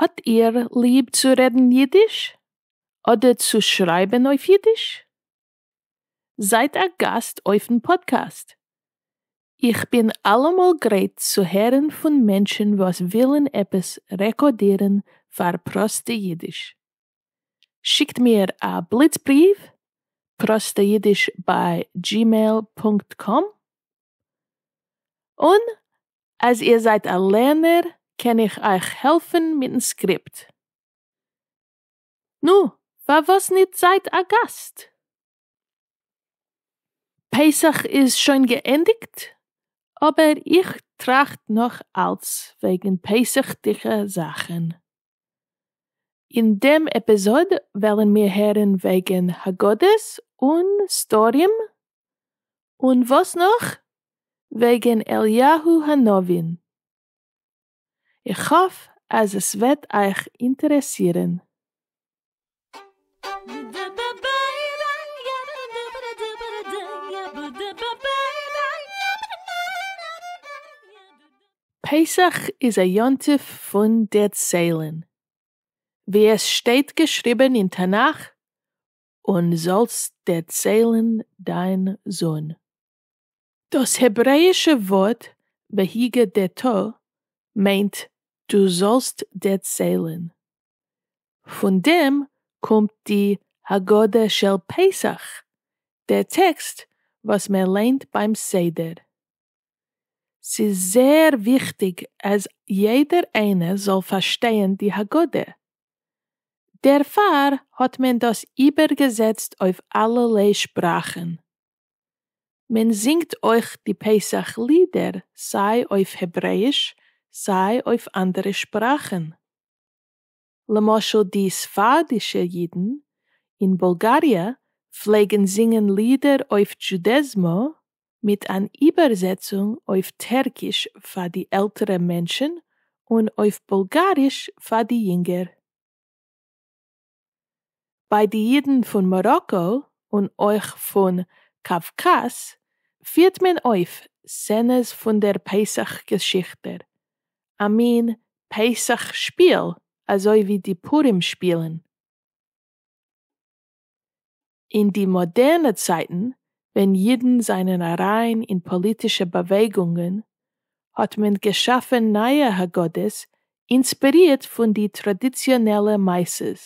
האט איר ליב צו רעדן אידיש? אדער צו שרייבן אויף אידיש? זייט א גאסט אויפן פאדקעסט! איך בין אלעמאל גרייט צו הערן פון מענטשן וואס ווילן עפעס רעקאדירן פאר פראסטע אידיש. שיקט מיר א בליץ בריוו, prosteyidish ביי gmail פונקט קאם, און אז איר זייט א לערנער קען איך אייך העלפן מיטן סקריפט. נו, פארוואס ניט זייט א גאסט? פסח איז שוין געענדיגט, אבער איך טראכט נאך אלץ וועגן פסח'דיגע זאכן. אין דעם עפיזאד וועלן מיר הערן וועגן הגדות און סדרים, און וואס נאך? וועגן אליהו הנביא. איך האף אז עס וועט אייך אינטערעסירן. פסח איז א יום טוב פון דערציילן, ווי עס שטייט געשריבן אין תנך, און זאלסט דערציילן דיין זון. דאס העברעאישע ווארט והגדת מיינט דו זאלסט דערציילן. פון דעם קומט די הגדה של פסח, דער טעקסט וואס מען ליינט ביים סדר. ס'איז זייער וויכטיג אז יעדער איינער זאל פארשטייען די הגדה. דערפאר האט מען דאס איבערגעזעצט אויף אלערליי שפראכן. מען זינגט אויך די פסח לידער סיי אויף העברעאיש סיי אויף אנדערע שפראכן. למשל די ספרדישע אידן אין בולגאריע פלעגן זינגען לידער אויף דזשודעזמא מיט אן איבערזעצונג אויף טערקיש פאר די עלטערע מענטשן און אויף בולגאריש פאר די יונגער. ביי די אידן פון מאראקא און אויך פון קאווקאז פירט מען אויף סצענעס פון דער פסח געשיכטער, א מין פסח שפיל אזוי ווי די פורים שפילן. אין די מאדערנע צייטן ווען אידן זענען אריין אין פאליטישע באוועגונגען האט מען געשאפן נייע הגדות אינספערירט פון די טראדיציאנעלע מעשות.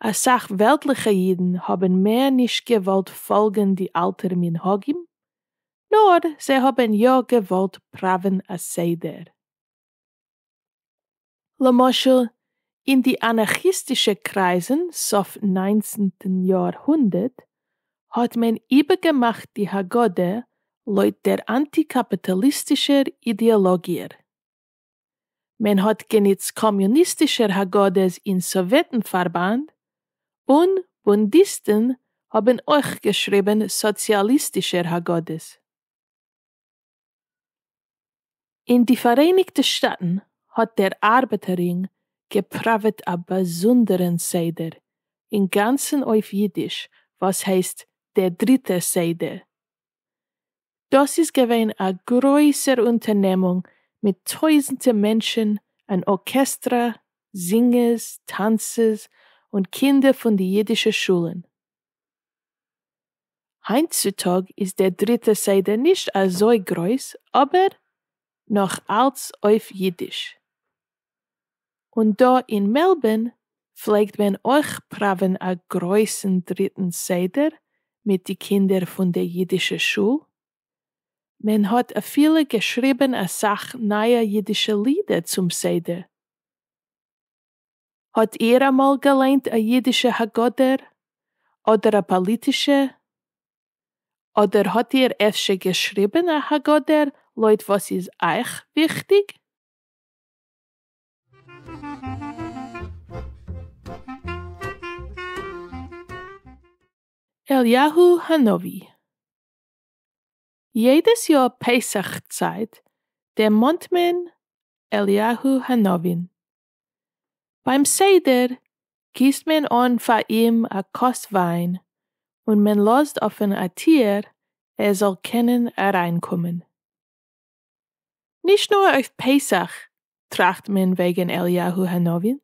אסאך וועלטליכע אידן האבן מער נישט געוואלט פאלגן די אלטע מנהגים נאר זיי האבן יא געוואלט פראווען א סדר. למשל אין די אנארכיסטישע קרייזן סוף ניינצנטן יאר הונדערט האט מען איבערגעמאכט די הגדה לויט דער אנטי קאפיטאליסטישער אידעאלאגיער. מען האט גענוצט קאמיוניסטישער הגדות אין סאוועטן פארבאנד, און בונדיסטן האבן אויך געשריבן סאציאליסטישער הגדות. אין די פאראייניגטע שטאטן האט דער ארבעטער רינג געפראוועט א באזונדערן סדר, אינגאנצן אויף אידיש, וואס הייסט דער דריטער סדר. דאס איז געווען א גרויסער אונטערנעמונג מיט טויזנטע מענטשן, אן ארקעסטרא, זינגערס, טאנצערס, און קינדער פון די אידישע שולן. היינט צו טאג איז דער דריטע סדר נישט אזוי גרויס אבער נאך אלץ אויף אידיש. און דא אין מעלבערן פלעגט מען אויך פראווען א גרויסן דריטן סדר מיט די קינדער פון די אידישע שול. מען האט אפילו געשריבען אסאך נייע אידישע לידער צום סדר. האט איהר אמאל געליינט א אידישע הגדר? אדער א פאליטישע? אדער האט איהר אפשר געשריבען א הגדר לויט וואס איז אייך וויכטיג? אליהו הנביא. יעדעס יאר פסח צייט דערמאנט מען אליהו הנביא'ן. ביים סדר גיסט מען אן פאר אים א כוס וויין און מען לאזט אפען א טיר ער זאל קענען אריינקומען. נישט נאר אויף פסח טראכט מען וועגן אליהו הנביא,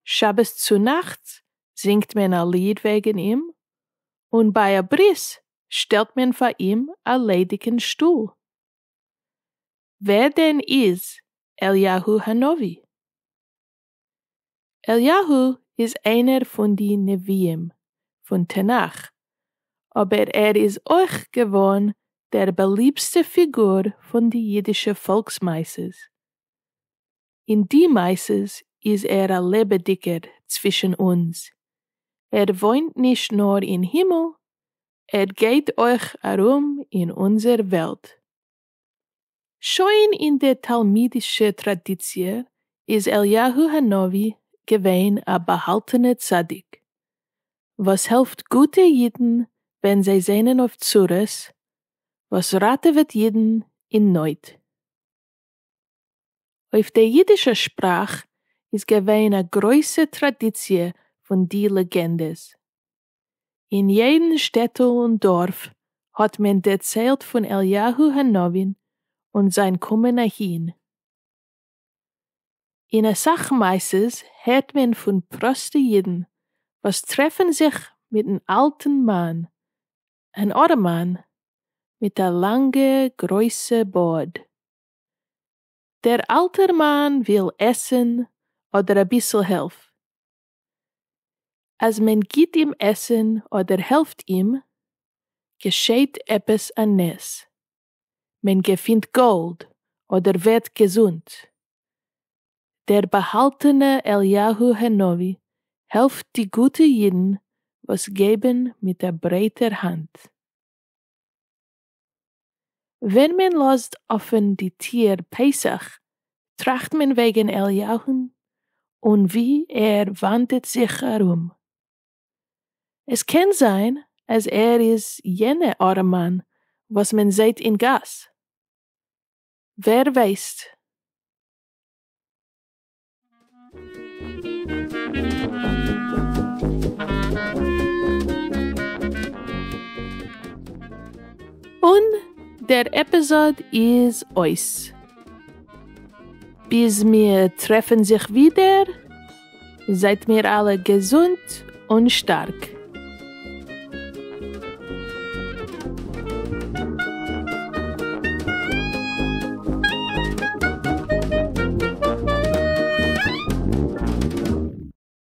שבת צונאכטס זינגט מען א ליד וועגן אים, און ביי א ברית שטעלט מען פאר אים א ליידיגן שטול. ווער דען איז אליהו הנביא? אליהו איז איינער פון די נביאים פון תנך, אבער ער איז אויך געווארן דער באליבסטע פיגור פון די אידישע פאלקסמעשות. אין די מעשות איז ער א לעבעדיגער צווישן אונז, ער וואוינט נישט נאר אין הימל, ער גייט אויך ארום אין אונזער וועלט. שוין אין די תלמידישע טראדיציע איז אליהו הנביא געווען א באהאלטענע צדיק, וואס העלפט גוטע אידן ווען זיי זענען אויף צרות, וואס ראטעוועט אידן אין נויט. אויף די יידישע שפראך איז געווען א גרויסע טראדיציע פון די לעגענדעס. אין יעדן שטעטל און דארף האט מען דערציילט פון אליהו הנביא און זיין קומען אהין. אין אסאך מעשות הערט מען פון פראסטע יידן וואס טרעפן זיך מיטן אלטן מאן אַן אָרעמאַן מיט אַ לאַנגע גרױסע באָרד. דער אַלטער מאַן װיל עסן אָדער אַ ביסל הילף. אַז מען גיט אים עסן אָדער העלפֿט אים, געשעט עפּעס אַ נס. מען געפינט גאלד אדער ווערט געזונט. דער באהאלטענע אליהו הנביא העלפט די גוטע אידן וואס געבן מיט א ברייטער האנט. ווען מען לאזט אפען די טיהר פסח טראכט מען וועגן אליהון און ווי ער וואנדעט זיך ארום. עס קען זיין אז ער איז יענע ארעמאן וואס מען זעהט אין גאס. ווער ווייסט. און דער עפיזאד איז אויס. ביז מיר טרעפן זיך ווידער. זייט מיר אלע געזונט און שטארק.